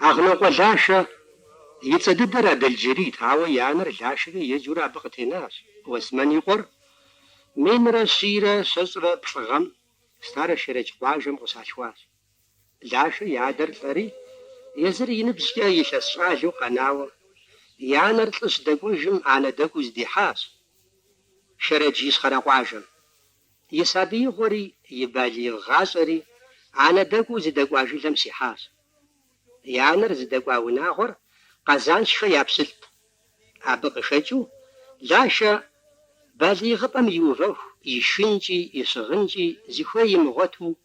Агънокъуэ Лашэ и цӏэ дыдэр Адэлджэрийт, ауэ и анэр Лашэкӏэ еджэурэ абы къытенащ. Уэсмэн и къуэр минрэ щийрэ щэщӏрэ плӏы гъэм Старэ Шэрэдж къуажэм къыщалъхуащ. Лашэ и адэр лӏэри, езыр и ныбжькӏэ илъэс щӏалэу къэнауэ, и анэр лӏы щыдэкӏуэжым анэдэкӏуэу здихьащ Шэрэдж Ищхъэрэ къуажэм. И сабиигъуэри и балигъ гъащӏэри анэдэкӏуэу здэкӏуа жылэм щихьащ. И анэр зыдэкӏуа унагъуэр Къэзаншхэ я пщылӏт. Абы къыхэкӏыу, Лашэ балигъыпӏэм иувэху и шынкӏи и щыгъынкӏи зыхуей имыгъуэту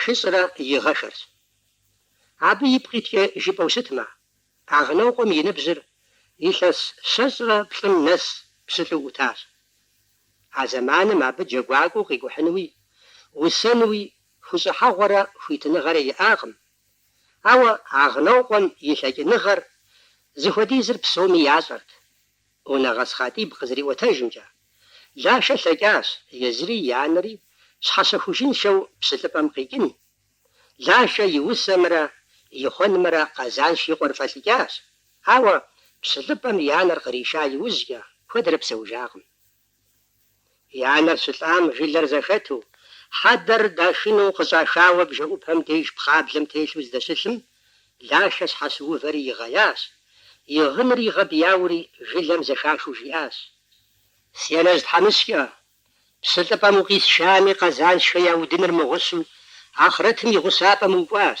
Шыщӏрэ и гъэшэрщ. Абы ипкъ иткӏэ жыпӏэу щытмэ, Агънокъуэм и ныбжьыр илъэс щэщӏрэ плӏым нэс пщылӏу ӏутащ. А зэманым абы джэгуакӏуэу къикӏухьынуи, усэнуи хущӏыхьэгъуэрэ хуитыныгъэрэ иӏакъым. Ауэ Агънокъуэм и лъэкӏыныгъэр зыхуэдизыр псоми ящӏэрт. Унэгъэс Хъатӏиб къызэриӏуэтэжымкӏэ, Лашэ лъэкӏащ езыри и анэри щхьэщэхужыншэу пщылӏыпӏэм къикӏын. Лашэ и усэмрэ и хъуэнымрэ Къэзанш и къуэр фӏэлӏыкӏащ, ауэ пщылӏыпӏэм и анэр къриша иужькӏэ куэдрэ псэужакъым. И анэр щылӏам жылэр зэхэту, хьэдэр дашыну къыщӏахауэ бжэӏупэм деж пхъаблэм телъу здэщылъым, Лашэ щхьэщыувэри игъеящ, и гъыныр игъэбэяури жылэм зэхахыу жиӏащ. Си анэжь тхьэмыщкӏэ, пщылӏыпӏэм укъисшами, Къэзаншхэ я удыныр мыгъущу, ахърэтым и гъущапӏэм укӏуащ.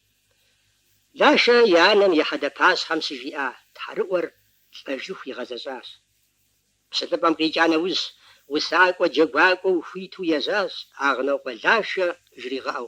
Лашэ и анэм и хьэдэпащхьэм щыжиӏа тхьэрыӏуэр лӏэжыху игъэзэщӏащ. Пщылӏыпӏэм къикӏа нэужь, усакӏуэ джэгуакӏуэу хуиту ежьащ Агънокъуэ Лашэ жригъэӏэу.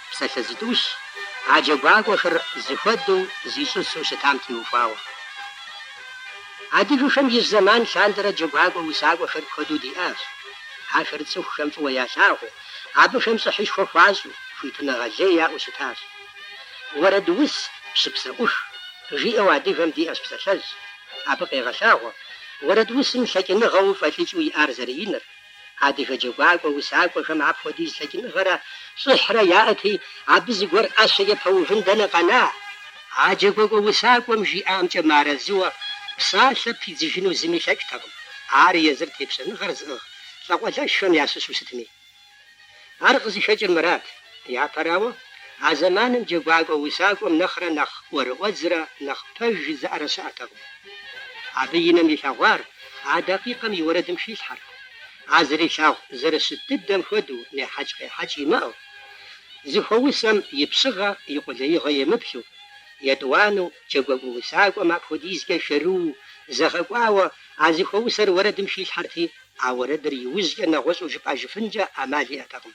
псалъэ зытӏущ, а джэгуакӏуэхэр зыхуэдэу зищӏысу щытам теухуауэ. Адыгэхэм ижь зэман лъандэрэ джэгуакӏуэ усакӏуэхэр куэду диӏащ. Ахэр цӏыхухэм фӏыуэ ялъагъуу, абыхэм щӏыхьышхуэ хуащӏу, хуитыныгъэ лей яӏэу щытащ. Уэрэдус пщы псэӏух, жиӏэу адыгэм диӏэщ псалъэжь. Абы къегъэлъагъуэ уэрэдусым лъэкӏыныгъэу фӏэлӏыкӏыу иӏар зэрыиныр. Адыгэ джэгуакӏуэ усакӏуэхэм апхуэдиз лъэкӏыныгъэрэ щӏыхьрэ яӏэти, абы зыгуэр ӏэщэкӏэ пэувын дэнэ къэна, а джэгуакӏуэ усакӏуэм жиӏамкӏэ мыарэзыуэ псалъэ пидзыжыну зыми лъэкӏтэкъым, ар езыр тепщэныгъэр зыӏыгъ лӏакъуэлӏэшхэм ящыщу щытми. Ар къызыхэкӏыр мырат. Япэрауэ, а зэманым джэгуакӏуэ усакӏуэм нэхърэ нэхъ ӏуэрыӏуэдзрэ нэхъ пэж жызыӏэрэ щыӏэтэкъым. Абы и нэм илъэгъуар а дакъикъэм и уэрэдым хилъхьэрт. А зэрилъагъу зэрыщыт дыдэм хуэдэу нехьэкӏ-къехьэкӏ имыӏэу, зыхуэусэм и пщыгъэ, и къулеигъэ емыплъу. Етӏуанэу, джэгуакӏуэ усакӏуэм апхуэдизкӏэ шэрыуу, зэгъэкӏуауэ а зыхуэусэр уэрэдым хилъхьэрти, А уэрэдыр иужькӏэ нэгъуэщӏу жыпӏэжыфынкӏэ ӏэмал иӏэтэкъым.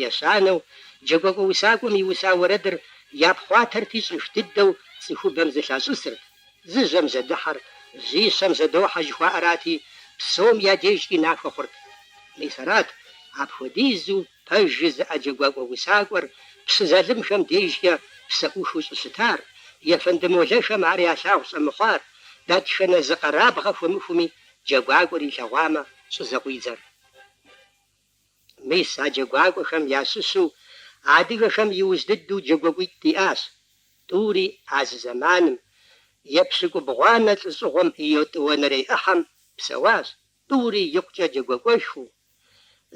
Ещанэу, джэгуакӏуэ усакӏуэм иуса уэрэдыр япхъуатэрти щӏэх дыдэу цӏыхубэм зэлъащӏысырт, зы жьэм жьэдыхьэр жьищэм жьэдохьэ жыхуаӏэрати, псом я дежкӏи нахуэ хъурт. Мис арат, апхуэдизу пэж жызыӏэ джэгуакӏуэ усакӏуэр пщы залымхэм дежкӏэ псэӏухыу щӏыщытар, ефэнды молэхэм ар ялъагъу щӏэмыхъуар, дэтхэнэ зы къэрабгъэ хуэмыхуми джэгуакӏуэр илъэгъуамэ, щӏызэкъуидзэр. Мис а джэгуакӏуэхэм ящыщу адыгэхэм иужь дыдэу джэгуакӏуитӏ диӏащ. Тӏури а зы зэманым епщыкӏубгъуанэ лӏыщӏыгъуэм и етӏуанэрей ӏыхьэм псэуащ, тӏури икъукӏэ джэгуакӏуэшхуэу,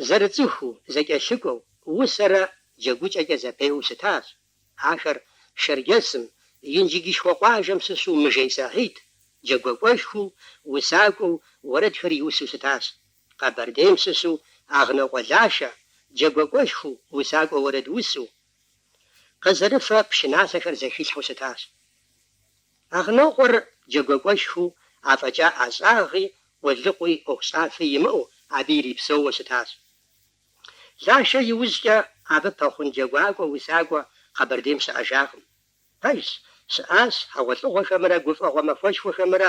зэрыцӏыхуу, зэкӏэлъыкӏуэу, усэрэ джэгукӏэкӏэ зэпеуэу щытащ. Ахэр Шэрджэсым, Инжыджышхуэ къуажэм щыщу Мыжей Сахьид, джэгуэкӏуэшхуэу, усакӏуэу, уэрэдхэр иусу щытащ. Къэбэрдейм щыщу Агънокъуэ Лашэ, джэгуэкӏуэшхуэу, усакӏуэу, уэрэдусу, къызэрыфэ пшыналъэхэр зэхилъхьэу щытащ. Агънокъуэр джэгуэкӏуэшхуэу афӏэкӏа ӏэщӏагъи къулыкъуи ӏуэхущӏафи имыӏэу абы ирипсэууэ щытащ. Лашэ иужькӏэ абы пэхъун джэгуакӏуэ усакӏуэ Къэбэрдейм щыӏэжакъым. Пэжщ, щыӏащ хьэгъуэлӏыгъуэхэмрэ гуфӏэгъуэ махуэшхуэхэмрэ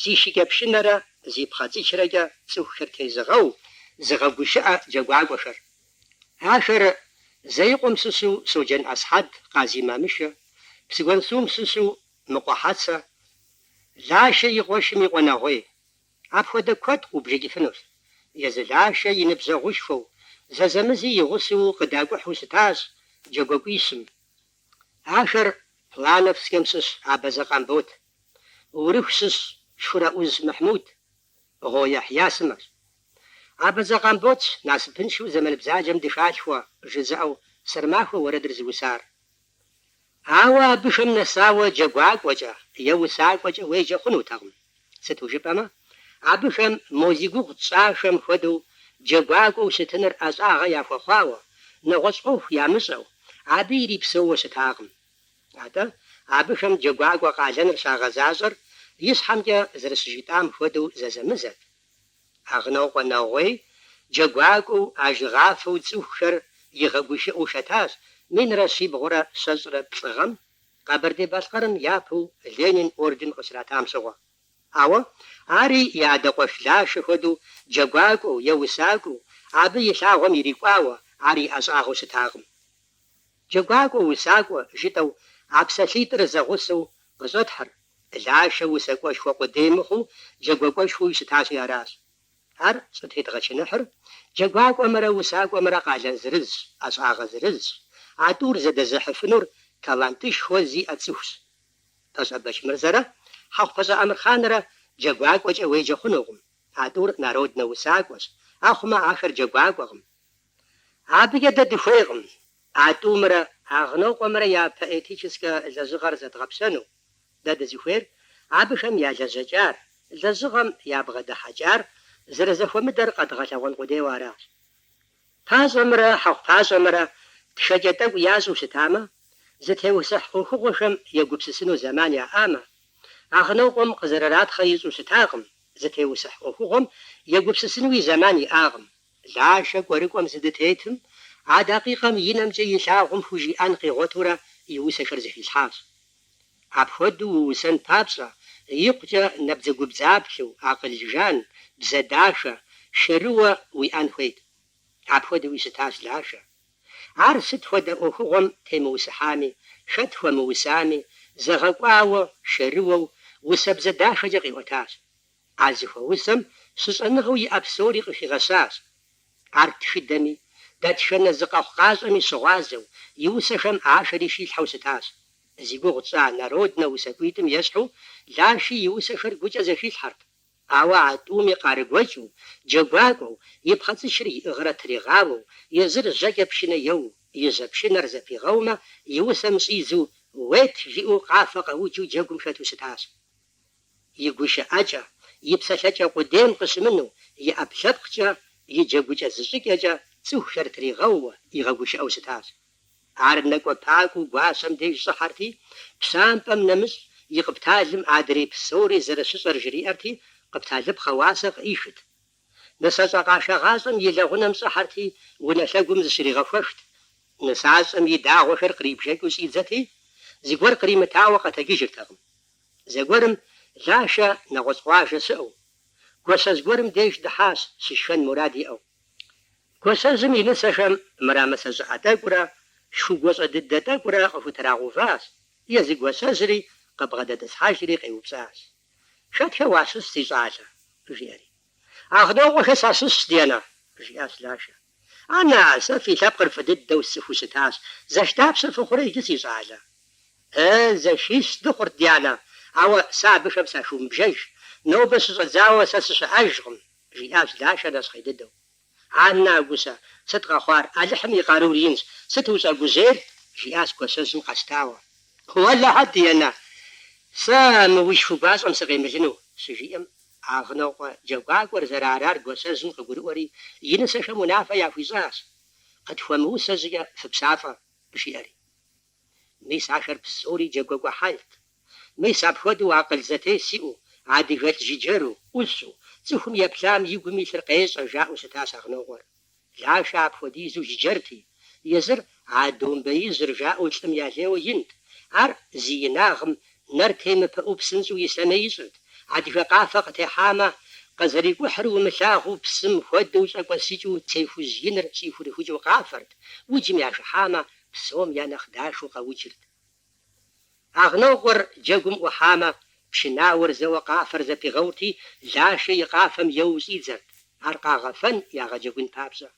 зи шыкӏэпшынэрэ зи пхъэцӏычрэкӏэ цӏыхухэр тезыгъэу, зыгъэгушыӏэ джэгуакӏуэхэр. Ахэр Зэикъуэм щыщу Щоджэн Ӏэсхьэд, Къази Мамышэ, Псыгуэнсум щыщу Мыкъуэ Хьэцэ, Лашэ и къуэшым и къуэ Нэгъуей. Апхуэдэ куэд къубжэкӏыфынущ. Езы Лашэ и ныбжьэгъушхуэу, зэзэмызи и гъусэу къыдакӏухьу щытащ джэгуакӏуищым. Ахэр Плановскэм щыщ Абэзэ Къамбот, Урыху щыщ Шхурэӏуз Мыхьмуд, Гъуо Яхья сымэщ. Абэзэ Къамботщ насыпыншэу зэман бзаджэм дыхалъхуэ жызыӏэу Сэрмахуэ уэрэдыр зыусар. Ауэ абыхэм нэсауэ джэгуакӏуэкӏэ е усакӏуэкӏэ уеджэ хъунутэкъым, сыту жыпӏэмэ, абыхэм мо зи гугъу тщӏахэм хуэдэу джэгуакӏуэу щытыныр ӏэщӏагъэ яхуэхъуауэ, нэгъуэщӏ ӏуэху ямыщӏэу, абы ирипсэууэ щытакъым. Атӏэ, абыхэм джэгуакӏуэ къалэныр щагъэзащӏэр ищхьэмкӏэ зэрыщыжитӏам хуэдэу зэзэмызэт. Агънокъуэ Нэгъуей джэгуакӏуэу, ажыгъафэу цӏыхухэр игъэгушыӏэу хэтащ минрэ щибгъурэ щэщӏрэ плӏы гъэм, Къэбэрдей-Балъкъэрым япэу Ленин орден къыщратам щыгъуэ. Ауэ ари и адэ къуэш Лашэ хуэдэу джэгуакӏуэу е усакӏуэу, абы и лъагъуэм ирикӏуауэ ар и ӏэщӏагъэу щытакъым. Джэгуакӏуэ, усакӏуэ, жытӏэу а псалъитӏыр зэгъусэу къыщӏэтхьыр, Лашэ усакӏуэшхуэ къудей мыхъуу джэгуакӏуэшхуэуи щытащи аращ. Ар щӏытедгъэчыныхьыр джэгуакӏуэмрэ усакӏуэмрэ къалэн зырызщ, ӏэщӏагъэ зырызщ, а тӏур зэдэзыхьыфынур талантышхуэ зиӏэ цӏыхущ. Пащӏэ Бэчмырзэрэ Хьэхъупащӏэ Амырхъанрэ джэгуакӏуэкӏэ уеджэ хъунукъым, а тӏур народнэ усакӏуэщ, ахъумэ ахэр джэгуакӏуэкъым. Абыкӏэ дэ дыхуейкъым а тӏумрэ Агънокъуэмрэ я поэтическэ лэжьыгъэр зэдгъэпщэну. Дэ дызыхуейр абыхэм я лэжьэкӏар, лэжьыгъэм ябгъэдыхьэкӏар зэрызэхуэмыдэр къэдгъэлъэгъуэн къудейуэ аращ. Пащӏэмрэ Хьэхъупащӏэмрэ тхэкӏэ тӏэкӏу ящӏэу щытамэ, зытеусыхь ӏуэхугъуэхэм егупсысыну зэман яӏамэ, Агънокъуэм къызэрыратхъэ ищӏу щытакъым, зытеусыхь ӏуэхугъуэм егупсысынуи зэман иӏакъым. Лашэ кӏуэрыкӏуэм зыдытетым, а дакъикъэм и нэмкӏэ илъагъум хужиӏэн къигъуэтурэ и усэхэр зэхилъхьащ. Апхуэдэу уусэн папщӏэ, икъукӏэ набдзэгубдзаплъэу, акъыл жан, бзэ дахэ, шэрыуэ уиӏэн хуейт. Апхуэдэуи щытащ Лашэ. Ар сыт хуэдэ ӏуэхугъуэм темыусыхьами, хэт хуэмыусами, зэгъэкӏуауэ, шэрыуэу, усэбзэ дахэкӏэ къиӏуэтащ. А зыхуэусэм щыщӏэныгъэу иӏэ псори къыхигъэщащ. Ар тхыдэми, дэтхэнэ зы къэхъукъащӏэми щыгъуазэу, и усэхэм ахэри хилъхьэу щытащ. Зи гугъу тщӏа Народнэ усакӏуитӏым ещхьу, Лаши и усэхэр гукӏэ зэхилъхьэрт. Ауэ а тӏуми къарыгуэкӏыу, джэгуакӏуэу, и пхъэцӏычыр иӏыгърэ тригъауэу, езыр жьэкӏэ пшынэ еуу, и жьэ пшынэр зэпигъэумэ, и усэм щӏидзу, Ует! жиӏэу къафэ къэуджу джэгум хэту щытащ. и гушыӏэкӏэ, и псэлъэкӏэ къудейм къыщымыну, и ӏэпкълъэпкъкӏэ, и джэгукӏэ зыщӏыкӏэкӏэ цӏыхухэр тригъэууэ, игъэгушыӏэу щытащ. Ар нэкӏуэпакӏуэу гуащэм деж щӏыхьэрти, пщампӏэм нэмыщӏ и къыпталым адрей псори зэрыщыщӏэр жриӏэрти, къыпталыпхъэ уасэ къыӏихырт. Нысащӏэ къашагъащӏэм и лэгъунэм щӏыхьэрти, унэ лъэгум зыщригъэхуэхт. Нысащӏэм и дагъуэхэр кърибжэкӏыу щӏидзэти, зыгуэр къримытауэ къэтэджыжыртэкъым. Зэгуэрым Лашэ нэгъуэщӏ къуажэ щыӏэу, гуащэжь гуэрым деж дыхьащ, щышхэн мурад иӏэу. Гуащэжьым и нысэхэм мырамысэ щӏыӏэ тӏэкӏурэ шху гуащӏэ дыдэ тӏэкӏурэ къыхутрагъэуващ, езы гуащэжьри къыбгъэдэтӏысхьэжри къеупщӏащ. Хэтхэ уащыщ, си щӏалэ, жиӏэри. Агънокъуэхэ сащыщщ, ди анэ, жиӏащ Лашэ. Анэ, сэ фи лъэпкъыр фӏы дыдэу сцӏыхуу щытащ. Зэш дапщэ фыхъурэ иджы, си щӏалэ? Э, зэшищ дыхъурт, ди анэ, ауэ сэ абыхэм сахыумыбжэж. Нобэ щыщӏэдзауэ сэ сыщыӏэжкъым, жиӏащ Лашэ нэщхъей дыдэу. Аннэ а гущэ сыт къэхъуар? Алыхьым и къарур инщ. Сыт ущӏэгужьейр? жиӏащ гуащэжьым къэщтауэ. Уэлэхьэ, дянэ, сэ мы уи шху гуащӏэм сыкъемылыну, щыжиӏэм, Агънокъуэ джэгуакӏуэр зэрыарар гуащэжьым къыгурыӏуэри, и нысэхэм унафэ яхуищӏащ. Къытхуэмыусэ щӏыкӏэ фыпщафӏэ, жиӏэри. Мис ахэр псори джэгуакӏуэ хьэлт. Мис апхуэдэу акъыл зэтес иӏэу, адыгэлӏ жыджэру, ӏущу, цӏыхум еплъам и гум илъыр къещӏэ, жаӏэу щытащ Агънокъуэр. Лашэ апхуэдизу жыджэрти, езыр а домбеижьыр жаӏэу лӏым ялейуэ инт, ар зи инагъым нэр темыпыӏэу псынщӏэу ислъэмей ищӏырт, адыгэ къафэ къытехьамэ, къызэрикӏухьыр умылъагъуу псым хуэдэу щӏэкӏуэсыкӏыу цей хужь иныр щӏихурыхукӏыу къафэрт, уджым яхыхьамэ, псом я нэхъ дахэу къэуджырт. Агънокъуэр джэгум ӏухьамэ, пшынауэр зэуэ къафэр зэпигъэурти, Лашэ и къафэм еуэу щӏидзэрт, ар къагъэфэн ягъэджэгун папщӏэ.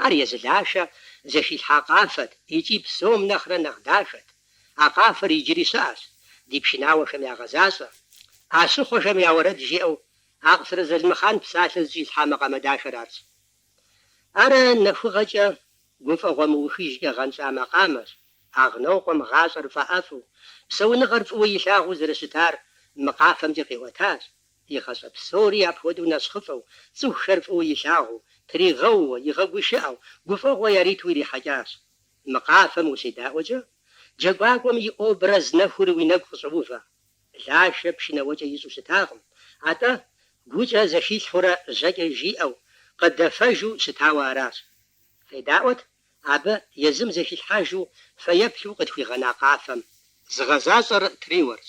Ар езы Лашэ зэхилъхьа къафэт икӏи псом нэхърэ нэхъ дахэт. А къафэр иджыри щыӏэщ, ди пшынауэхэм ягъэзащӏэ. ӏэщыхъуэхэм я уэрэд жиӏэу Акъсырэ Залымхъан псалъэ зыщӏилъхьа макъамэ дахэр арщ. Ар нэхугъэкӏэ гуфӏэгъуэ мыухыжкӏэ гъэнщӏа макъамэщ, Агънокъуэм гъащӏэр фӏэӏэфӏу, псэуныгъэр фӏыуэ илъагъуу зэрыщытар мы къафэмкӏэ къиӏуэтащ, и гъащӏэ псори апхуэдэу нэщхъыфӏэу, цӏыхухэр фӏыуэ илъагъуу, тригъэууэ, игъэгушыӏэу, гуфӏэгъуэ яриту ирихьэкӏащ. Мы къафэм ущедаӏуэкӏэ, джэгуакӏуэм и образ нэхур уи нэгу къыщӏоувэ. Лашэ пшынэ еуэкӏэ ищӏэу щытакъым, атӏэ гукӏэ зэхилъхьурэ жьэкӏэ жиӏэу, къыдэфэжу щытауэ аращ. Федаӏуэт абы езым зэхилъхьэжу фэеплъу къытхуигъэна къафэм. Зыгъэзащӏэр триуэрщ.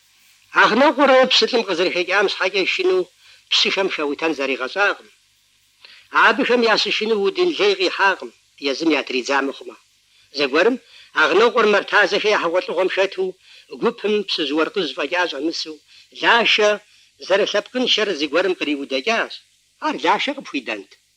Агънокъуэр пщылӏым къызэрыхэкӏам щхьэкӏэ шынэу пщыхэм хэутэн зригъэщӏакъым. Абыхэм ящышынэу удын лей къихьакъым, езым ятридза мыхъумэ. Зэгуэрым Агънокъуэр Мэртазэхэ я хьэгъуэлӏыгъуэм хэту, гупым пщыжь-уэркъыжь фӏэкӏа щӏэмысу, Лашэ зэрылъэпкъыншэр зыгуэрым къриудэкӏащ. Ар Лашэ къыпхуидэнт.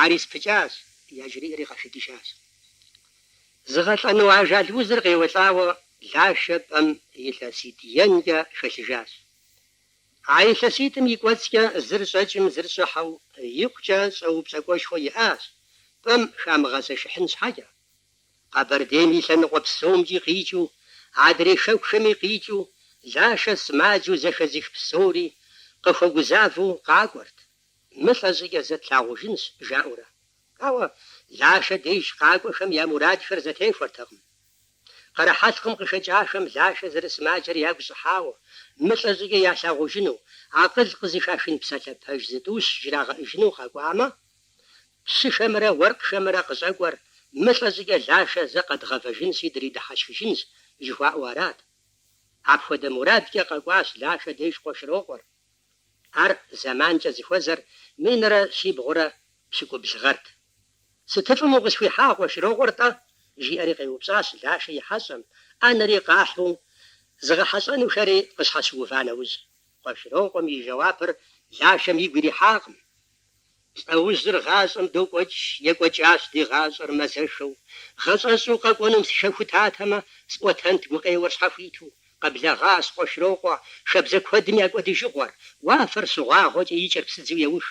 Ари спыкӏащ, яжриӏэри къахэкӏыжащ. Зыгъэлӏэну ажал узыр къеуэлӏауэ Лашэ пӏэм илъэситӏ енкӏэ хэлъыжащ. А илъэситӏым и кӏуэцӏкӏэ зыр щӏэкӏым зыр щӏыхьэу икъукӏэ щӏэупщӏэкӏуэшхуэ иӏащ, пӏэм хамыгъэзэшыхьын щхьэкӏэ. Къэбэрдейм и лъэныкъуэ псомкӏи къикӏыу, адрей хэкухэми къикӏыу Лашэ сымаджэу зэхэзых псори къыхуэгузавэу къакӏуэрт, Мылӏэ щӏыкӏэ зэ тлъагъужынщ, жаӏэурэ. Ауэ Лашэ деж къакӏуэхэм я мурадхэр зэтехуэртэкъым. Къэрыхьэлъкъым къыхэкӏахэм Лашэ зэрысымаджэр ягу щӏыхьауэ, мылӏэ щӏыкӏэ ялъагъужыну, акъыл къызыхашын псалъэ пэж зытӏущ жрагъэӏыжыну къэкӏуамэ, пщыхэмрэ уэркъхэмрэ къыщӏэкӏуэр мылӏэ щӏыкӏэ Лашэ зэ къэдгъэвэжынщи дридыхьэшхыжынщ жыхуаӏэу арат. Апхуэдэ мурадкӏэ къэкӏуащ Лашэ деж Къуэшырокъуэр. Ар зэманкӏэ зыхуэзэр минрэ щибгъурэ пщыкӏубл гъэрт. Сытыфӏым укъысхуихьа Къуэшырокъуэр-тӏэ? жиӏэри къеупщӏащ Лашэ и хьэщӏэм, ӏэнэри къахьу зыгъэхьэщӏэнухэри къыщхьэщыува нэужь. Къуэшырокъуэм и жэуапыр Лашэм игу ирихьакъым. Лӏэужьыр гъащӏэм докӏуэкӏ, екӏуэкӏащ ди гъащӏэр мэзэшэу. Гъэщӏэщӏу къэкӏуэнум сыхэхутатэмэ, сӏуэтэнт гукъеуэр щхьэхуиту. Къэблэгъащ Къуэшрокъуэ шабзэ куэдым я кӏуэдыжыгъуэр, уафэр щыгъуагъуэкӏэ и кӏэр псыдзэу еух.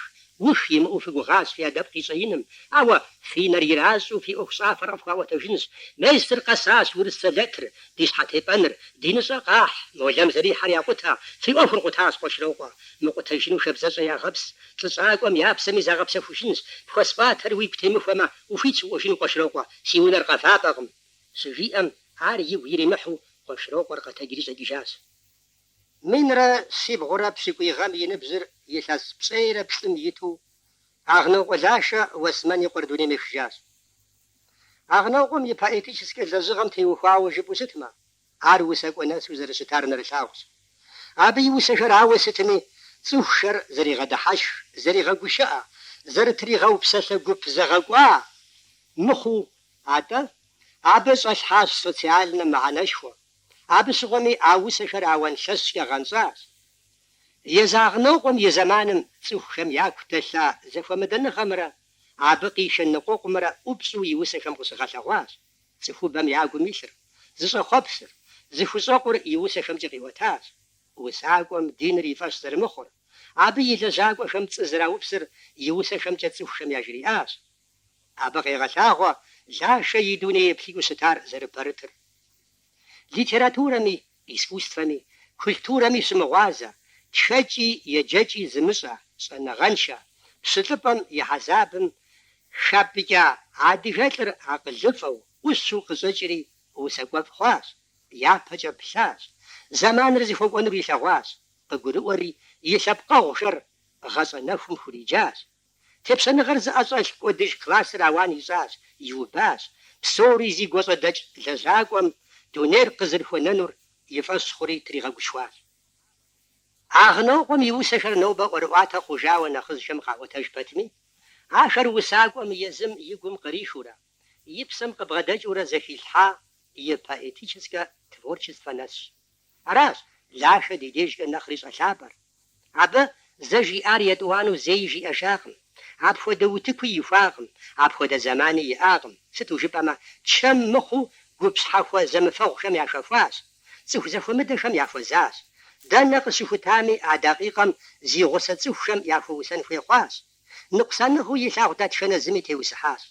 Ух имыӏэу фыгугъащ фи адэпкъ и щӏэиным, ауэ фи нэр иращӏу фи ӏуэхущӏафэр къыфхуаӏуэтэжынщ. Месыр къэсащ урыс сэлэтыр, ди щхьэтепӏэныр, диныщӏэ къахь, молэм зэрихьэр якъутэ, фи ӏуэхур къутащ Къуэшрокъуэ. Мыкъутэжыну шабзэщӏэ ягъэпс, Лӏыщӏакӏуэм я псэми загъэпсэхужынущ, пхуэсӏуатэр уигу темыхуэмэ, ухуитщ укӏуэжыну Къуэшрокъуэ, си унэр къэвапӏэкъым. Щыжиӏэм, ар игу иримыхьу Къуэшрокъуэр къэтэджри щӏэкӏыжащ. Минрэ щибгъурэ пщыкӏуий гъэм и ныбжьыр илъэс пщӏейрэ плӏым иту Агънокъуэ Лашэ Уэсмэн и къуэр дунейм ехыжащ. Агънокъуэм и поэтическэ лэжьыгъэм теухуауэ жыпӏэу щытмэ, Ар усакӏуэ нэсу зэрыщытар нэрылъагъущ. Абы и усэхэр ауэ сытми, цӏыхухэр зэригъэдыхьэшх, зэригъэгушыӏэ, зэрытригъэу псалъэ гуп зэгъэкӏуа мыхъуу, атӏэ, абы щӏэлъхьащ социальнэ мыхьэнэшхуэ. Абы щыгъуэми а усэхэр ауан лъэщкӏэ гъэнщӏащ. Езы Агънокъуэм и зэманым цӏыхухэм яку дэлъа зэхуэмыдэныгъэмрэ абы къишэ ныкъуэкъумрэ ӏупщӏу и усэхэм къыщыгъэлъэгъуащ. Цӏыхубэм я гум илъыр, зыщӏэхъуэпсыр, зыхущӏэкъур и усэхэмкӏэ къиӏуэтащ. Усакӏуэм диныр и фӏэщ зэрымыхъур, абы и лэжьакӏуэхэм пцӏы зэраупсыр и усэхэмкӏэ цӏыхухэм яжриӏащ. Абы къегъэлъагъуэ Лашэ и дуней еплъыкӏэу щытар зэрыпэрытыр. Литературэми, искусствэми, культурэми щымыгъуазэ, тхэкӏи еджэкӏи зымыщӏэ, щӏэныгъэншэ, пщылӏыпӏэм и хьэзабым хапӏыкӏа адыгэ лӏыр акъылыфӏэу, ӏущу къыщӏэкӏри усакӏуэфӏ хъуащ, япэкӏэ плъащ, зэманыр зыхуэкӏуэнур илъэгъуащ, къыгурыӏуэри и лъэпкъэгъухэр гъащӏэ нэхум хуриджащ, Тепщэныгъэр зыӏэщӏэлъ кӏуэдыж классыр ауан ищӏащ, иубащ, псори зи гуащӏэдэкӏ лэжьакӏуэм дунейр къызэрыхуэнэнур и фӏэщ хъури тригъэгушхуащ. Агънокъуэм и усэхэр нобэ ӏуэрыӏуатэ хъужауэ нэхъыжьхэм къаӏуэтэж пэтми, ахэр усакӏуэм езым и гум кърихыурэ, и псэм къыбгъэдэкӏыурэ зэхилъхьа и поэтическэ творчествэ нэсщ. Аращ Лашэ ди дежкӏэ нэхъри щӏэлъапӏэр. Абы зэ жиӏар етӏуанэу зэи жиӏэжакъым. Апхуэдэ утыкуи ихуакъым, апхуэдэ зэмани иӏакъым, сыту жыпӏэмэ, чэм мыхъуу гуп щхьэхуэ зэмыфэгъухэм яхэхуащ, цӏыху зэхуэмыдэхэм яхуэзащ. Дэнэ къыщыхутами а дакъикъэм зи гъусэ цӏыхухэм яхуэусэн хуей хъуащ. Ныкъусаныгъэу илъагъу дэтхэнэ зыми теусыхьащ.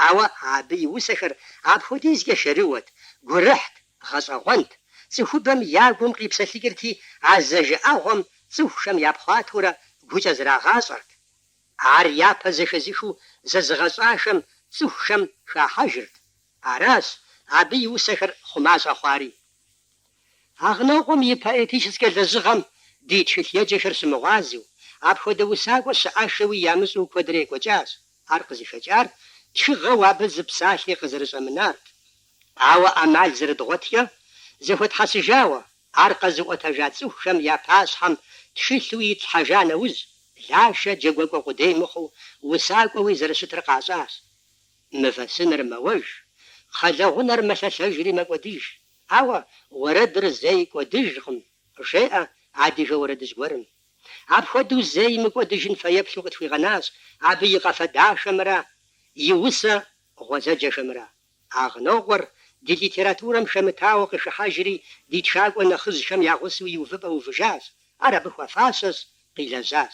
Ауэ абы и усэхэр апхуэдизкӏэ шэрыуэт, гурыхьт, гъэщӏэгъуэнт, цӏыхубэм я гум къипсэлъыкӏырти, а зэжыӏэгъуэм цӏыхухэм япхъуатэурэ гукӏэ зрагъащӏэрт. Ар япэ зэхэзыхыу зэзыгъэщӏахэм цӏыхухэм хахьэжырт. Аращ абы и усэхэр хъума щӏэхъуари. Агънокъуэм и поэтическэ лэжьыгъэм ди тхылъеджэхэр щымыгъуазэу, апхуэдэ усакӏуэ щыӏэххэуи ямыщӏэу куэдрэ екӏуэкӏащ, ар къызыхэкӏар тхыгъэу абы зы псалъи къызэрыщӏэмынарт. Ауэ ӏэмал зэрыдгъуэткӏэ, зэхуэтхьэсыжауэ, ар къэзыӏуэтэжа цӏыхухэм я пащхьэм тхылъу итлъхьэжа нэужь, Лашэ джэгуэкӏуэ къудей мыхъуу усакӏуэуи зэрыщытыр къащӏащ. Мывэ сыныр мэуэж, кхъэлэгъунэр мэлъэлъэжри мэкӏуэдыж, Ауэ уэрэдыр зэи кӏуэдыжкъым, жеӏэ адыгэ уэрэдыжь гуэрым. Апхуэдэу зэи мыкӏуэдыжын фэеплъу къытхуигъэнащ абы и къафэ дахэмрэ и усэ гъуэзэджэхэмрэ. Агънокъуэр ди литературэм хэмытауэ къыхыхьэжри ди тхакӏуэ нэхъыжьхэм я гъусэу и увыпӏэ увыжащ, ар абы хуэфащэщ, къилэжьащ.